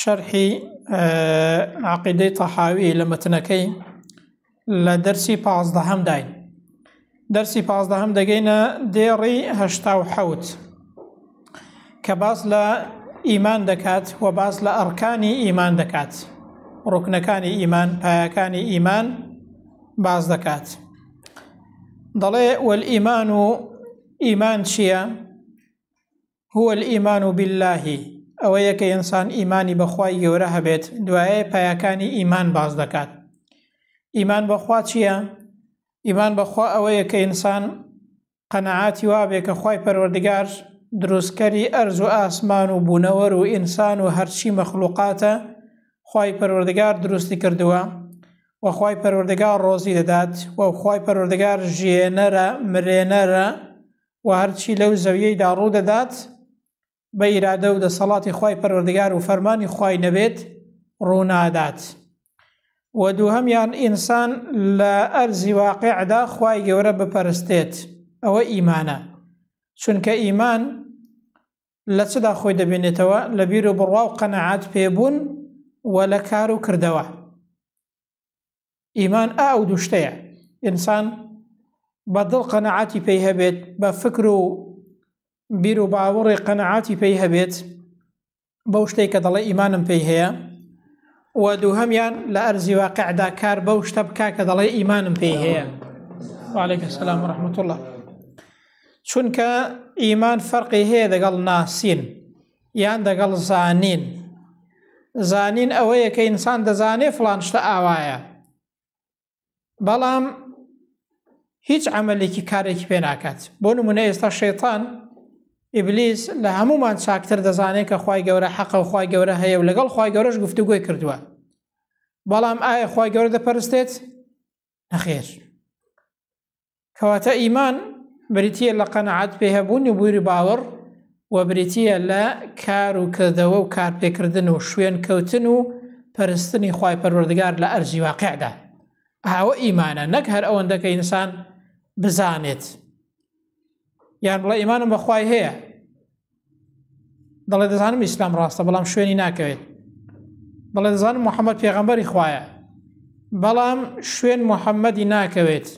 شەرحی عقیدەی تەحاوی لە مەتنەکەی لە دەرسی پازدەهەم داین دەرسی پازدەهەم دەگەینە دێڕی هەشتا و حەوت کە باس لە ئیمان دەکات و باس لە ئەڕکانی ئیمان دەکات ڕوکنەکانی ئیمان پایەکانی ئیمان باز دەکات دەڵێ وەل ئیمان و ئیمان چییە؟ هو الایمان باللە، ئەوەیە کە ئینسان ئیمانی بە خوای گەورە هەبێت، دوایە پایەکانی ئیمان باس دەکات. ئیمان بەخوا چییە؟ ئیمان بەخوا ئەوەیە کە ئینسان قەنەعاتی وابێ کە خوای پەروەردگار دروستکەری ئەرز و ئاسمان و بوونەوەر و ئینسان و هەرچی مەخلوقاتە خوای پەروەردگار دروستی کردووە وەخوای پەروەردگار ڕۆزی دەدات وەخوای پەروەردگار ژێنەرە مرێنەرە و هەرچی لەو زەویەیدا ڕوودەدات بە ئیرادە و دەسەڵاتی خوای پەروەردگار و فەرمانی خوای نەبێت ڕوونادات و دووهەمیان ئینسان لە ئەرزی واقعدا خوای گەورە بپەرستێت ئەوە ئیمانە چونکە ئیمان لە چدا خۆی دەبێنێتەوە لە بیر و بڕوا و قەنەعات پێبوون و لە کار و کردەوە ئیمان ئا ئەو دوشتەیە ئینسان بە دڵ قەنەعاتی پێی هەبێت بە فکر و بیر و باوەڕێ قەنەعاتی پێی هەبێت بەو شتێک کە دەڵێ ئیمانم پێی هەیە و دووهەمیان لە ئەرزی واقعدا کار بەو شتە بکە کە دەڵێ ئیمانم پێی هەیە وعليكم السلام ورحمة الله چونکە ئیمان فەرقی هەیە دەگەڵ ناسین یان دەگەڵ زانین زانین ئەوەیە کە ئینسان دەزانێ فلان شتە ئاوایە بەڵام هیچ عملێکی کارێکی پێ ناکات بۆ نمونە ئێستا شێتان ئیبلیس لە هەمومان چاکتر دەزانێت کە خی گەورە حەقە و خی گەورە هەیە و لەگەڵ خی گەورەش گفتوگوی کردووە بەڵام ئایا خی گەورە دەپەرستێت نەخێر کەواتە ئیمان بریتە لە قەنەعات پێ هەبوون و بووری باوەڕ و بریتە لە کار و کردەوە و کارپێکردن و شوێن کەوتن و پەرستنی خی پەروەردگار لە ئەرزی واقعدا ئاوە ئیمانە نەک هەر ئەوەندەکە ئینسان بزانێت یان بڵێ ئیمانم بەخوای هەیە دەڵێ دەزانم ئیسلام ڕاستە بەڵام شوێنی ناکەوێت دەڵێ دەزانم محەممەد پێغەمبەری خوایە بەڵام شوێن محەممەدی ناکەوێت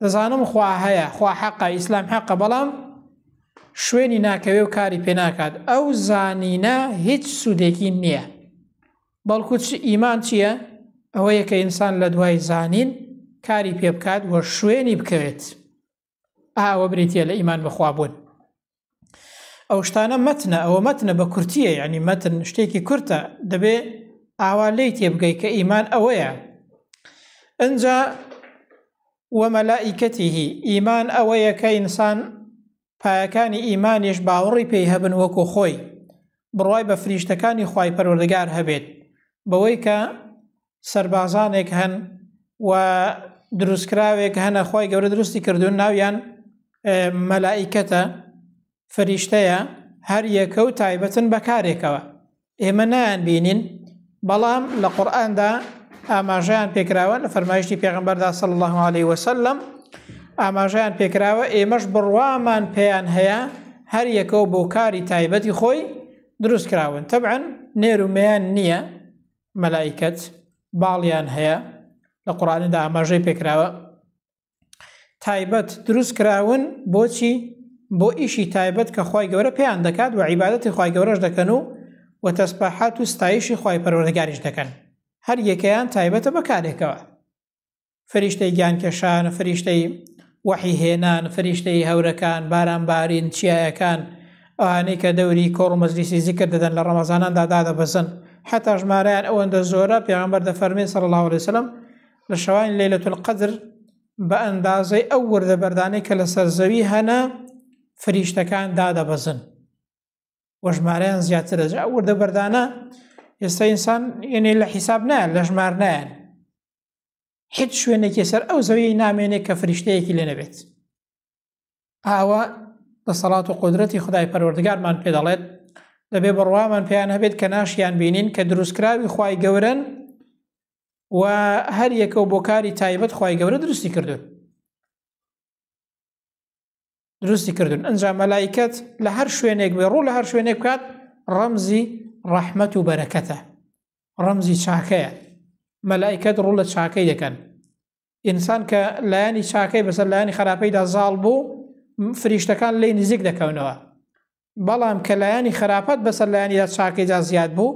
دەزانم خوا هەیە خوا حەقە ئیسلام حەقە بەڵام شوێنی ناکەوێ و کاری پێ ناکات ئەو زانینە هیچ سوودێکی نییە بەڵکو چ ئیمان چییە؟ ئەوەیە کە ئینسان لە دوای زانین کاری پێ بکات و شوێنی بکەوێت. ئاوە بریتە لە ئیمان بەخوابوون. ئەو شتانە مەتنە ئەوە مەتنە بە کورتیە ینی مەتن شتێکی کورتە دەبێ ئاوا لی تێبگەی کە ئیمان ئەوەیە ئەجا وەمەلائیکەتیهی ئیمان ئەوەیە کە ئینسان پایەکانی ئیمانیش باوەڕی پێی هەبن وەکو خۆی بڕوای بە فریشتەکانی خوای پەروەردگار هەبێت بەوەی کە سەربازانێک هەن و دروستکراوێک هەنە خوای گەورە دروستی کردوون ناویان مەلائیکەتە فریشتەیە هەر یەکە و تایبەتن بەکارێکەوە ئێمە نایان بینین بەڵام لە قورآاندا ئاماژیان پێکراوە لە فەرمایشتی پێغمبەردا سەڵ الله عليه وسلم ئاماژیان پێکراوە ئێمەش بڕوامان پێیان هەیە هەر یەکەو بۆ کاری تایبەتی خۆی دروست کراون تەبعەن نێرومەیان نییە مەلایکەت باڵیان هەیە لە قڕانیدا ئاماژەی پێکراوە تایبەت دروست کراون بۆچی بۆ ئیشی تایبەت کە خی گەورە پێیان دەکات و عیباەتی خی گەورەش دەکەن و و تەسپاحات و ستایشی خی پەروەردەگاریش دەکەن هەر یەکەیان تایبەتە بەکارێکەوە فریشتەی گیانکێشان فریشتەی وەحی هێنان فریشتەی هەورەکان بارانبارین چیایەکان ئەوانەی کە دەوری کۆڕ مەزلیسی زیکر دەدەن لە ڕەمەزاناندا دادەبەزن حتا ژمارەیان ئەوەندە زۆرە پێغمبەر دەفەرمێن سەر الله عليه وسلم لە شەوانی لەیلەتولقەدر بە ئەندازەی ئەو وردە بەردانەی کە لەسەر زەوی هەنە فریشتەکان دادەبەزن وە ژمارەیان زیاتر دەجا ئەو وردە بەردانە ئێستا ئینسان یعنی لە حیساب نایان لە ژمار نایەن هیچ شوێنێکی سەر ئەو زەوی نامێنێ کە فریشتەیەکی لێ نەبێت ئاوا دەسەڵات و قدرەتی خدای پەروەردگارمان پێ دەڵێت دەبێ بڕوامان پێیان هەبێت کە ناشیان بینین کە دروستکراوی خی گەورن و هەر یەکە و بۆ کاری تایبەت خی گەورە دروستی کردو دروستی کردن ئەنج مەلایکەت لە هەر شوێنێک بێ ڕوو لە هەر شوێنێک بکات ڕەمزی ڕەحمەت و بەرەکەتە ڕەمزی چاکەیە مەلایکەت ڕوو لە چاکەی دەکەن ئینسان کە لایەنی چاکەی بەسەر لایەنی خراپەیدا زاڵ بوو فریشتەکان لی نزیک دەکەونەوە بەڵام کە لایەنی خراپەت بەسەر لایەنیدا چاکەیدا زیاد بوو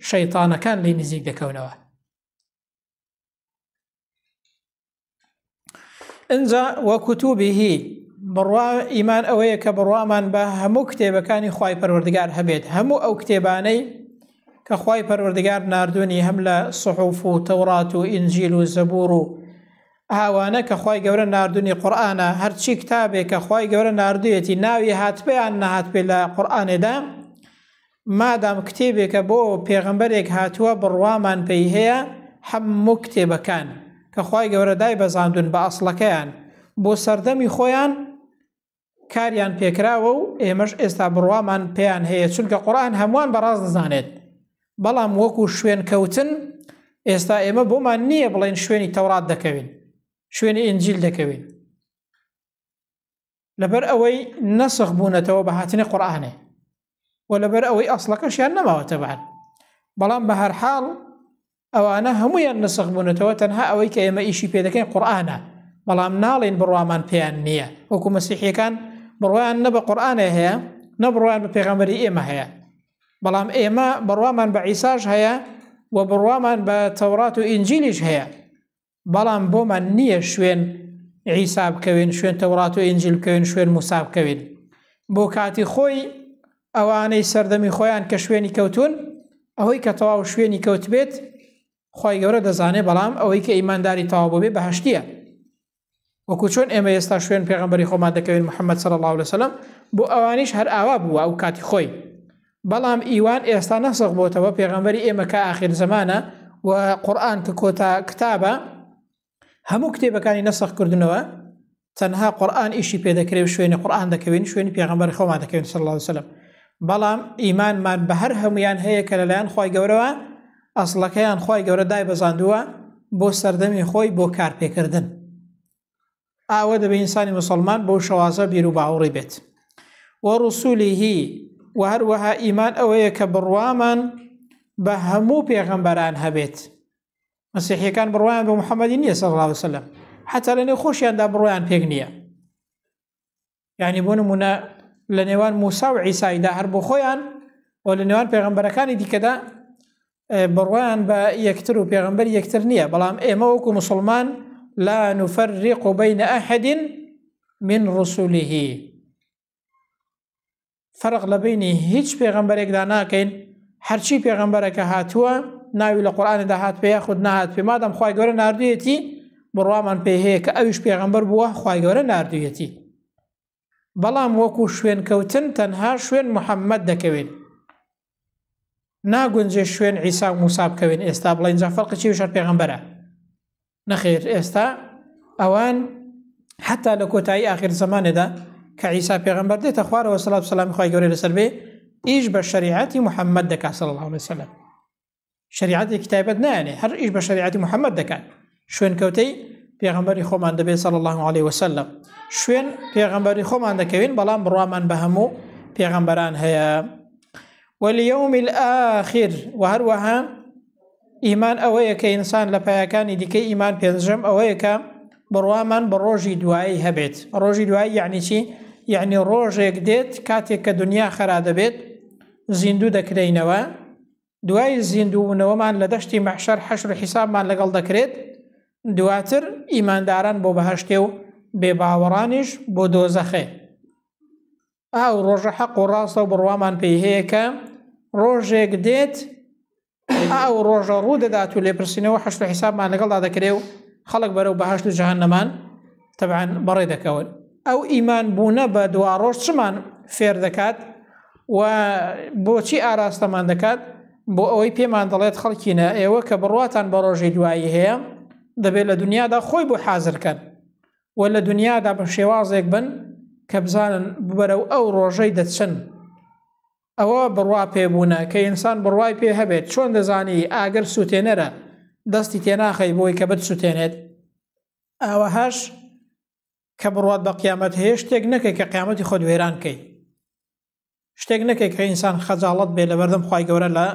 شەیتانەکان لی نزیک دەکەونەوە ئەجا وەکوتوبیهی بڕوا ئیمان ئەوەیە کە بڕوامان بە هەموو کتێبەکانی خی پەروەردگار هەبێت هەموو ئەو کتێبانەی کە خوای پەروەردگار ناردوونی هەم لە صحوف و تەوڕات و ئینجیل و زەبوور و ئاوانە کە خوای گەورە ناردوونی قورئانە هەرچی کتابێک کە خوای گەورە ناردوویەتی ناوی هاتبیان نەهات پێ لە قورئانێدا مادام کتێبێکە بۆ پێغەمبەرێک هاتووە بڕوامان پێی هەیە هەموو کتێبەکان کە خوای گەورە دای بەزاندون بە ئەسڵەکەیان بۆ سەردەمی خۆیان کاریان پێکراوە و ئێمەش ئێستا بڕوامان پێیان هەیە چونکە قورآن هەمووان بەڕاست دەزانێت بەڵام وەکو شوێن کەوتن ئێستا ئێمە بۆمان نییە بڵێن شوێنی تەورات دەکەوین شوێنی ئنجیل دەکەوین لەبەر ئەوەی نەسخ بوونەتەوە بە هاتنی قورآانێ و لەبەر ئەوەی ئەسڵەکەشیان نەماوە تەبان بەڵام بە هەر حاڵ ئەوانە هەمویان نسخ بوونەتەوە تەنها ئەوەی کە ئێمە ئیشی پێدەکەین قورآانە بەڵام ناڵین بڕوامان پێیان نییە وەکو مەسیحیەکان بڕوایان نە بە قورآانێ هەیە نە بڕوان بە پێغەمبەری ئێمە هەیە بەڵام ئێمە بڕوامان بە عیساش هەیە و بڕوامان بە تەورات و ئینجیلیش هەیە بەڵام بۆمان نییە شوێن عیسا بکەوێن شوێن تەوڕات و ئینجل بکەوێن شوێن موسا بکەوێن بۆ کاتی خۆی ئەوانەی سەردەمی خۆیان کە شوێنی کەوتون ئەوەی کە تەواو شوێنی کەوت بێت خی گەورە دەزانێ بەڵام ئەوەی کە ئیمانداری تەواو بۆ بێ بەهشتیە وەکو چۆن ئێمە ئێستا شوێن پێغمبەری خۆمان دەکەوین محەممەد سەر الله لەسەلم بۆ ئەوانیش هەر ئاوا بووە ئەو کاتی خۆی بەڵام ئیوان ئێستا نەسەق بۆتەوە پێغمبەری ئێمە کە ئاخر زمانە و قورآن کە کۆتا کتابە هەموو کتێبەکانی نەسەق کردنەوە تەنها قورآن ئیشی پێدەکرێ و شوێنی قورآن دەکەوین شوێنی پێغمبەر خۆمان دەکەوین سەر الله وسلم بەڵام ئیمانمان بە هەر هەمویان هەیە کە لەلایەن خی گەورەوە ئەسڵەکەیان خوای گەورە دایبەزاندووە بۆ سەردەمی خۆی بۆ کارپێکردن ئاوە دەبێ ئینسانی مسلمان بۆ شەوازە بیر و باوەڕی بێت و ڕسوولی هی و هەروەها ئیمان ئەوەیە کە بڕوامان بە هەموو پێغەمبەران هەبێت مەسیحەکان بڕوایان بە محەممەدی نیە سەڵاوسلم حتا لەنێ خۆشیاندا بڕوایان پێک نییە یعنی بۆ نمونە لە نێوان موسا و عیسایدا هەر بۆ خۆیان و لە نێوان پێغمبەرەکانی دیکەدا بڕوایان بە یەکتر و پێغمبەر یەکتر نییە بەڵام ئێمە وەکو مسلمان لا نفرق بین ئەحدین من رسولیه فەرق لە بینی هیچ پێغەمبەرێکدا ناکەین هەرچی پێغەمبەرەکە هاتووە ناوی لە قورآاندا هات پێ خود نهات پێ مادەم خی گەورە نردویەتی بڕوامان پێ هەیە کە ئەویش پێغەمبەر بووە خی گەورە نردویەتی بەڵام وەکو شوێنکەوتن تەنها شوێن محەممەد دەکەوێت ناگونجێ شوێن عیسا و موسا بکەوێن ئێستا بڵێ اینجا فەرقی چی وشار پێغمبەرە نەخێر ئێستا ئەوان حتا لە کۆتایی آخر زمانێدا کە عیسا پێغمبەر دێتە خوارەوە سلات سلام خی گەورە لەسەر بێ ئیش بە شریعەتی محەممەد دەکات سەڵ هەڵێ سەلم شریعەتێکی تایبەت نایەنێ هەر ئیش بە شریعەتی محەممەد دەکات شوێنکەوتەی پێغمبەری خۆمان دەبێت سەڵ الله عليه وسلم شوێن پێغمبەری خۆمان دەکەوین بەڵام بڕوامان بە هەموو پێغمبەران هەیە وەلیوم آخر و هەروەها ئیمان ئەوەیە کە ئینسان لە پایەکانی دیکەی ئیمان پێنجەم ئەوەیە کە بڕوامان بە ڕۆژی دوایی هەبێت ڕۆژی دوایی یعنی چی یعنی ڕۆژێک دێت کاتێک کە دنیا خرا دەبێت زیندوو دەکرینەوە دوای زیندوونەوەمان لە دەشتی مەحشەر حەشر حیسابمان لەگەڵ دەکرێت دواتر ئیمانداران بۆ بەهشتێ و بێباوەڕانیش بۆ دۆزەخێ ئاو ڕۆژە حەق و ڕاستە و بڕوامان پێی هەیە کە ڕۆژێک دێت ئاو ڕۆژە ڕوو دەدات و لێپرسینەوە حەشت حیسابمان لەگەڵدا دەکرێ و خەڵک بەرەو بەهشت و جهنمان تەبعەن بەڕێ دەکەون ئەو ئیمان بوونە بە دواڕۆژ چمان فێر دەکات و بۆچی ئاراستەمان دەکات بۆ ئەوەی پێمان دەڵێت خەڵکینە ئێوە کە بڕواتان بە ڕۆژی دوایی هەیە دەبێت لە دنیادا خۆی بۆ حازرکەن و لە دنیادا بە شێوازێک بن کە بزانن ببەرە و ئەو ڕۆژەی دەچن ئەوە بڕوا پێبوونە کە ئینسان بڕوای پێ هەبێت چۆن دەزانی ئاگەر سووتێنەرە دەستی تێناخەی بۆی کە بت سووتێنێت ئاوەهاش کە بڕوات بە قیامەت هەیە شتێک نەکەی کە قیامەتی خۆت وێران کەی شتێک نەکەی کە ئینسان خەجاڵت بێ لە بەردەم خی گەورە لە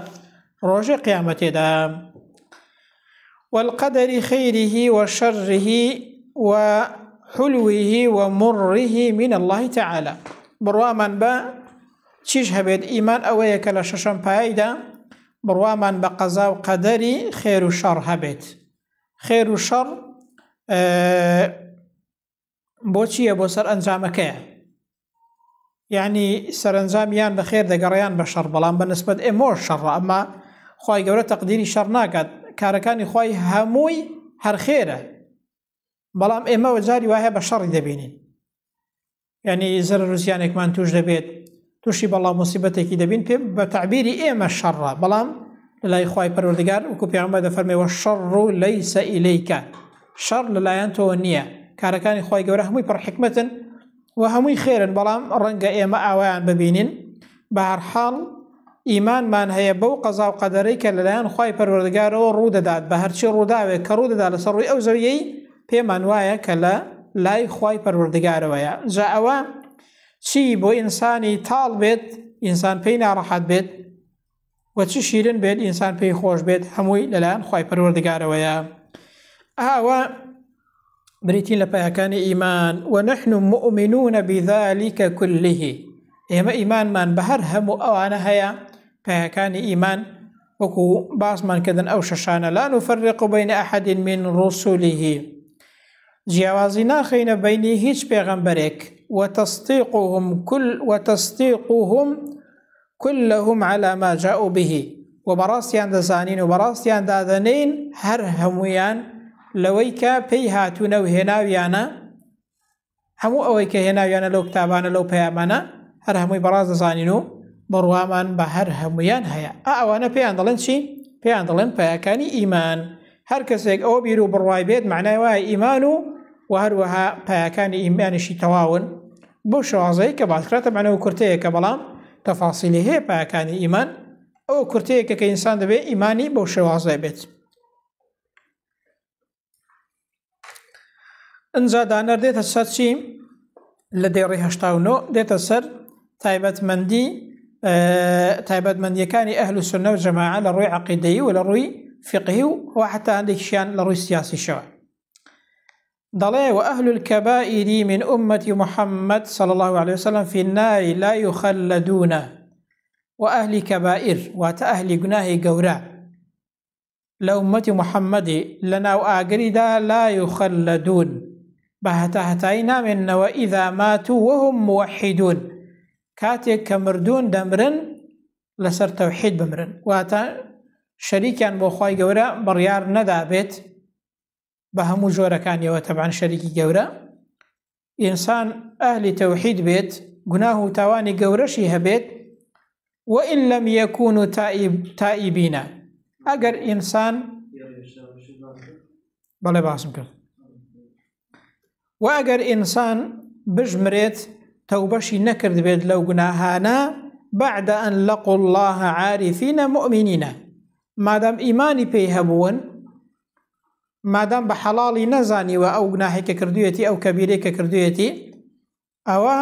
ڕۆژێ قیامەتێدا والقدری خیریه و شەڕه و حلوه و مڕه من الله تعالی بڕوامان بە چیش هەبێت ئیمان ئەوەیە کە لە شەشەم پایدا بڕوامان بە قەزا و قەدەری خێر و شەڕ هەبێت خێر و شەڕ بۆچییە بۆ سەر ئەنجامەکەیە یعنی سەرنجام یان بە خێر دەگەڕیان بە شەڕ بەڵام بە نسبت ئێمۆ شەڕ ئەمە خی گەورە تەقدیری شەڕ ناکات کارەکانی خی هەمووی هەرخێرە بەڵام ئێمەوە جاری وایە بە شەڕی دەبینین یعنی زەرەر و زیانێکمان توش دەبێت توشی بەڵا مصیبەتێکی دەبین پێ بە تعبیری ئێمە شەڕە بەڵام لەلای خی پەروەردگار وکو پێمە دەفەرمەوە شەڕ و لەی سەئیلیکە شەڕ لەلایەن تۆ نییە کارەکانی خی گەورە هەمووی پڕ حکمتن و هەمووی خێرن بەڵام ڕەنگە ئێمە ئاوایان ببینین بەهەرحاڵ ئیمانمان هەیە بەو قەزا و قەدەرەی کە لەلایەن خوای پەروەردگارەوە ڕوو دەدات بە هەرچی ڕووداوێک کە ڕوو دەدات لەسەر ڕووی ئەو زەویەی پێمان وایە کە لە لای خوای پەروەردگارەوەیە جا ئەوە چی بۆ ئینسانی تاڵ بێت ئینسان پێی ناڕەحەت بێت وە چ شیرن بێت ئینسان پێی خۆش بێت هەمووی لەلایەن خی پەروەردگارەوەیە ئاوە بریتی لە پایەکانی ئیمان و نحن مؤمنون بذلك كله ئێمە ئیمانمان بە هەر هەموو ئەوانە هەیە پایەکانی ئیمان وەکو باسمان کردن ئەو شەشانە لا نفرق بین احد من رسله جیاوازی ناخینە بینی هیچ پێغەمبەرێک وتەستیقهم کل وتەستیقهم کلهم علی ما جاءوا به و بەڕاستیان دەزانین و بەڕاستیان دادەنین هەر هەموویان لەوەی کە پێی هاتوونە و هێناویانە هەموو ئەوەی کە هێناویانە لەو کتابانە لەو پەیامانە هەر هەمووی بەڕاست دەزانین و بڕوامان بە هەر هەمویان هەیە ئەوانە پێیان دەڵێن چی پێیان دەڵێن پایەکانی ئیمان هەر کەسێک ئەوە بیر و بڕوای بێت معنای وایە ئیمان و و هەروەها پایەکانی ئیمانیشی تەواون بەو شێوازەی کە باس کرا تەبعەن ئەو کورتەیەکە بەڵام تەفاسیلی هەیە پایەکانی ئیمان ئەو کورتەیەکە کە ئینسان دەبێت ئیمانی بەو شێوازە بێت ئەجا دانەر دێتە سەر چی لە دێڕی هشتا و نۆ دێتە سەر تایبەتمەندی تایبەتمەندیەکانی ئەهل و سنە و جەماع لە ڕووی عقیدەی و لە ڕووی فقهی و وحتا هەندێکیان لە ڕووی سیاسیشەوە دەڵێ، وأهل الکبائر من امة محمد صلی اللە علیە وسلم فی النار لا یخلدون و ئەهلی کەبائر واتە ئەهلی گوناهی گەورە لە امەتی محمدی لە ناو ئاگریدا لا یخلدون بە هەتا هەتایی نامێنەوە ئیدا مات و وهم موحیدون کاتێک کە مردوون دەمرن لەسەر تەوحید بمرن واتە شەریکیان بۆ خی گەورە بڕیار نەدابێت بە هەموو جۆرەکانیەوە تەبان شەریکی گەورە ئینسان ئەهلی تەوحید بێت گوناه و تاوانی گەورەشی هەبێت وئین لەم یەکون و تائیبینە ئەگەر ئینسان بەڵێ باسم کرد و ئەگەر ئینسان بژمرێت تەوبەشی نەکرد بێت لەو گوناهانە بعد أن لقوا الله عارفين مؤمنين مادام ئیمانی پێی هەبوون مادام بە حەڵاڵی نەزانیوە ئەو گوناهی کە کردوێتی ئەو کەبیرەی کە کردوێتی ئەوە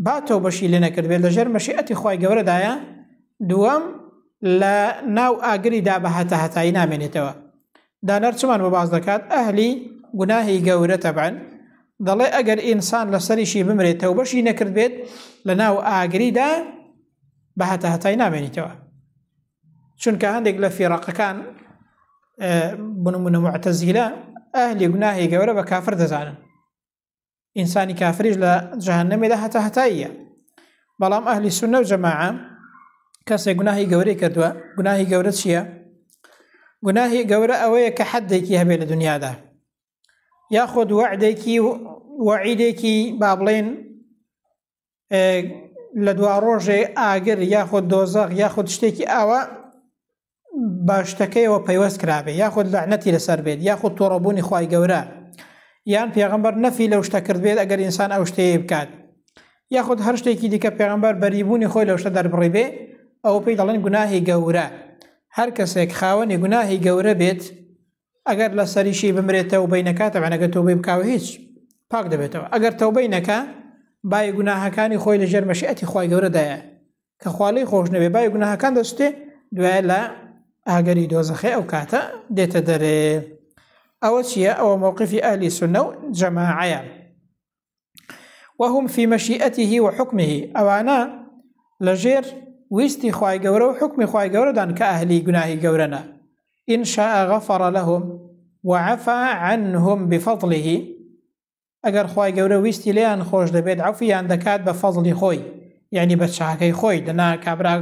با تۆ بەشی لێ نەکردبێت لەژێر مەشیئەتی خی گەورەدایە دووەم لە ناو ئاگریدا بە هەتا هەتایی نامێنێتەوە دانەر چمان بە باز دەکات ئەهلی گوناهی گەورە تەبان دەڵێ ئەگەر ئینسان لەسەریشی بمرێتەوە بەشی نەکردبێت لە ناو ئاگریدا بە هەتا هەتای نامێنیتەوە چونکە هەندێک لە فێڕەقەکان بنمونە معتەزیلە ئەهلی گوناهی گەورە بە کافر دەزانن ئینسانی کافریش لە جەهنەمێدا هەتا هەتاییە بەڵام ئەهلی سونە و جەماعە کەسێک گوناهی گەورەی کردووە گوناهی گەورە چییە؟ گوناهی گەورە ئەوەیە کە حەدێکی هەبێت لە دنیادا یاخود وعدێکی وعیدێکی با بڵێن لە دوا ڕۆژێ ئاگر یاخود دۆزەق یاخود شتێکی ئاوا باشتەکەیەوە پەیوەست کرابێ یاخود لەعنەتی لەسەر بێت یاخود تۆڕەبوونی خی گەورە یان پێغمبەر نەفی لەو شتە کرد بێت ئەگەر ئینسان ئەو شتەیە بکات یاخود هەر شتێکی دیکە پێغمبەر بەریبوونی خۆی لەو شتە دەربڕی بێ ئەو پێی دەڵێن گوناهی گەورە هەر کەسێک خاوەنی گوناهی گەورە بێت ئەگەر لەسەریشی بمرێتە و بینەکە تەبعەن ئەگەر تۆبەی بکاوە هیچ پاک دەبێتەوە ئەگەر تەوبەی نەکە بای گوناهەکانی خۆی لەژێر مەشیئەتی خی گەورەدایە کە خوالی خۆش نەبێ بای گوناهەکان دەستێ دوای لە ئاگەری دۆزەخێ ئەو کاتە دێتە دەرێ ئەوە چییە ئەوە مووقفی ئەلی سنە و جەماعەیە وهم فی مەشیئەتیه و حکمه ئەوانە لەژێر ویستی خوای گەورە و حکمی خوای گەورەدان کە ئەهلی گوناهی گەورەنە إن شاء غفر لهم وعفا عنهم بفضله ئەگەر خوای گەورە ویستی لێیان خۆش دەبێت عفیان دەکات بە فەزلی خۆی یعنی بە چاکەی خۆی دەنا کابرا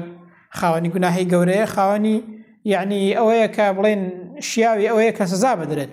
خاوەنی گوناهی گەورەیە خاوەنی یعنی ئەوەیە کە بڵێن شیاوی ئەوەیە کە سزا بدرێت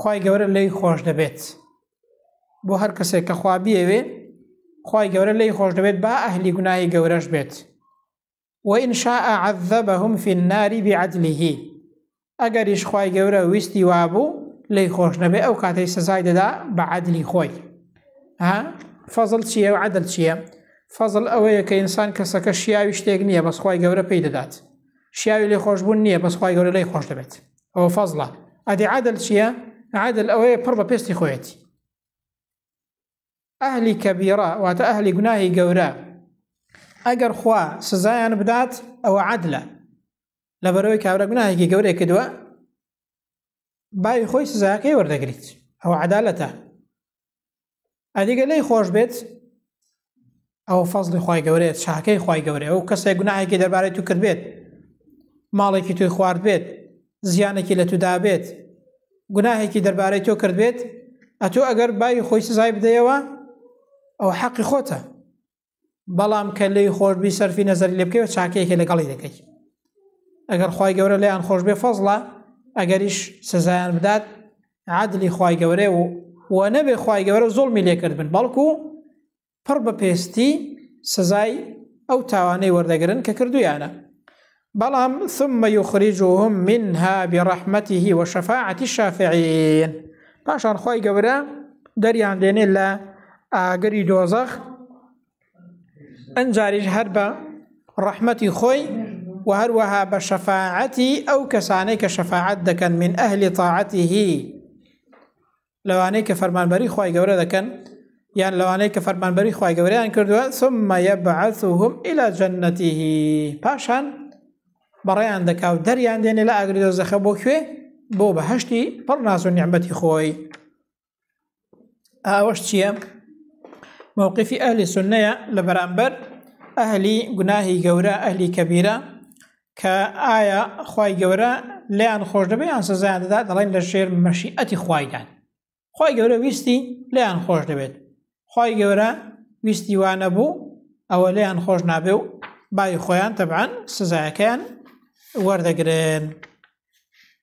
خی گەورە لی خۆش دەبێت بۆ هەر کەسێک کە خوا بیەوێ خی گەورە لی خۆش دەبێت با ئەهلی گوناهی گەورەش بێت وئین شاء عذبهم في النار بعدله ئەگەریش خی گەورە ویستی وابوو لی خۆش نەبێ ئەو کاتەی سزای دەدا بە عادلی خۆی ها فەزل چییە و عدل چییە فەزل ئەوەیە کە ئینسان کەسەکە شیاوی شتێک نییە بەسخوای گەورە پێی دەدات شیاوی لێ خۆشببوون نییە بەسخوای گەورە لی خۆش دەبێت ئەوە فەزڵە ئەدی عادل چییە؟ عادل ئەوەیە پڕ بە پێستی خۆیەتی ئەهلی کەبیڕە واتە ئەهلی گوناهی گەورە ئەگەر خوا سزایان بدات ئەوە عادلە لە بەرەوەی کابرا گوناهێکی گەورەی کردووە باوی خۆی سزاکەی وەردەگریت ئەوە عدالەتە ئەدی گەر لێی خۆش بێت ئەوە فەزلی خی گەورەیە چاکەی خی گەورەیە ئەو کەسێک گوناهێکی دەربارەی تو کرد بێت ماڵێکی توی خوارد بێت زیانێکی لە تودا بێت گوناهێکی دەربارەی تۆ کرد بێت ئەتۆ ئەگەر بای خۆی سزای بدەیەوە ئەو حەقی خۆتە بەڵام کە لێی خۆشببی سەرفی نەزەری لێ بکەوە چاکەیەکە لەگەڵی دەکەی ئەگەر خی گەورە لێیان خۆش بێ فەزڵە ئەگەریش سزایان بدات عادلی خی گەورەێ و و نەبێ خی گەورە زۆڵمی لێکرد بن بەڵکو پڕ بە پێستی سزای ئەو تاوانەی وەردەگرن کە کردویانە بەڵام ثم یخرجهم منها برحمته وشفاعة الشافعین پاشان خوای گەورە دەریان دێنێ لە ئاگری دۆزەخ ئەنجاریش هەر بە ڕەحمەتی خۆی و هەروەها بە شەفاعەتی ئەو کەسانەی کە شەفاعەت دەکەن من ئەهلی تاعەتیهی لەوانەی کە فەرمانبەری خوای گەورە دەکەن یان لەوانەی کە فەرمانبەری خوای گەورەیان کردووە ثم يبعثهم الى جنته پاشان بەڕێیان دەکا و دەریان دێنێ لە ئاگری دۆزەخە بۆ کوێ بۆ بەهشتی پڕ ناز و نیعممەتی خۆی ئاوەش چییە؟ مووقفی ئەهلی سنەیە لە بەرامبەر ئەهلی گوناهی گەورە ئەهلی کەبیرە کە ئایا خوای گەورە لێیان خۆش دەبێ یان سزایان دەدات دەڵێن لە ژێر مەشیئەتی خوایدان خوای گەورە ویستی لێیان خۆش دەبێت خوای گەورە ویستی وا نەبوو ئەوە لێیان خۆش نابێ و بای خۆیان تەبعاان سزایەکەیان وەردەگرن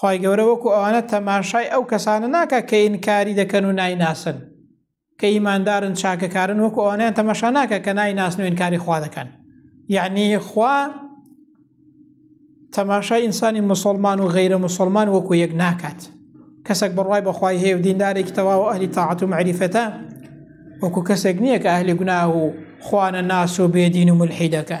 خی گەورە وەکو ئەوانە تەماشای ئەو کەسانە ناکە کە ئینکاری دەکەن و نایناسن کە ئیماندارن چاکەکارن وەکو ئەوانیان تەماشا ناکە کە نایناسن و ئینکاری خوا دەکەن یعنی خوا تەماشای ئینسانی مسلمان و غیرە مسلمان وەکو یەک ناکات کەسێک بڕوای بەخوای هەیە و دیندارێکی تەواو ئەهلی تاعات و معریفەتە وەکو کەسێک نییە کە ئەهلی گوناه و خوانە ناس و بێدین و ملحیدەکە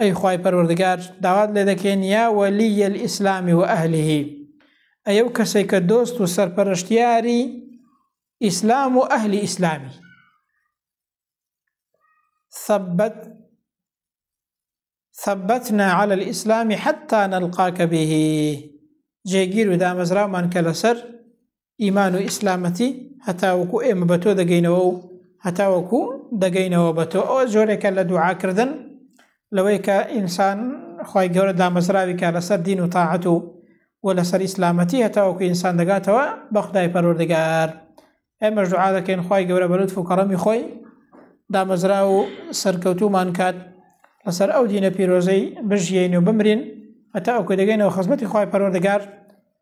ئەی خوای پەروەردگار داوات لێ دەکەین یا وەلیە الاسلام و ئەهلیه ئەی ئەو کەسێک کە دۆست و سەرپەرشتیاری ئیسلام و ئەهلی ئیسلامی ثبت ثبتنا على الإسلام حتى نلقاك به جێگیر و دامەزرامان کە لەسەر ئیمان و ئیسلامەتی هەتاوەکو ئێمە بە تۆ دەگەینەوە و هەتاوەکو دەگەینەوە بە تۆ ئەوە جۆرێکە لە دوعاکردن لەوەی کە ئینسان خی گەورە دامەزراوی کە لەسەر دین و تاعەت و و لەسەر ئیسلامەتی هەتاوەکو ئینسان دەگاتەوە بە خدای پەرۆردگار ئێمە ژعا دەکەین خی گەورە بەلوت و کەڕەمی خۆی دامەزرا و سەرکەوتومان کات لەسەر ئەو دینە پیرۆزەی بژیین و بمرین هەتا ئەو کە دەگەینەوە خزمەتی خی پەرۆردگار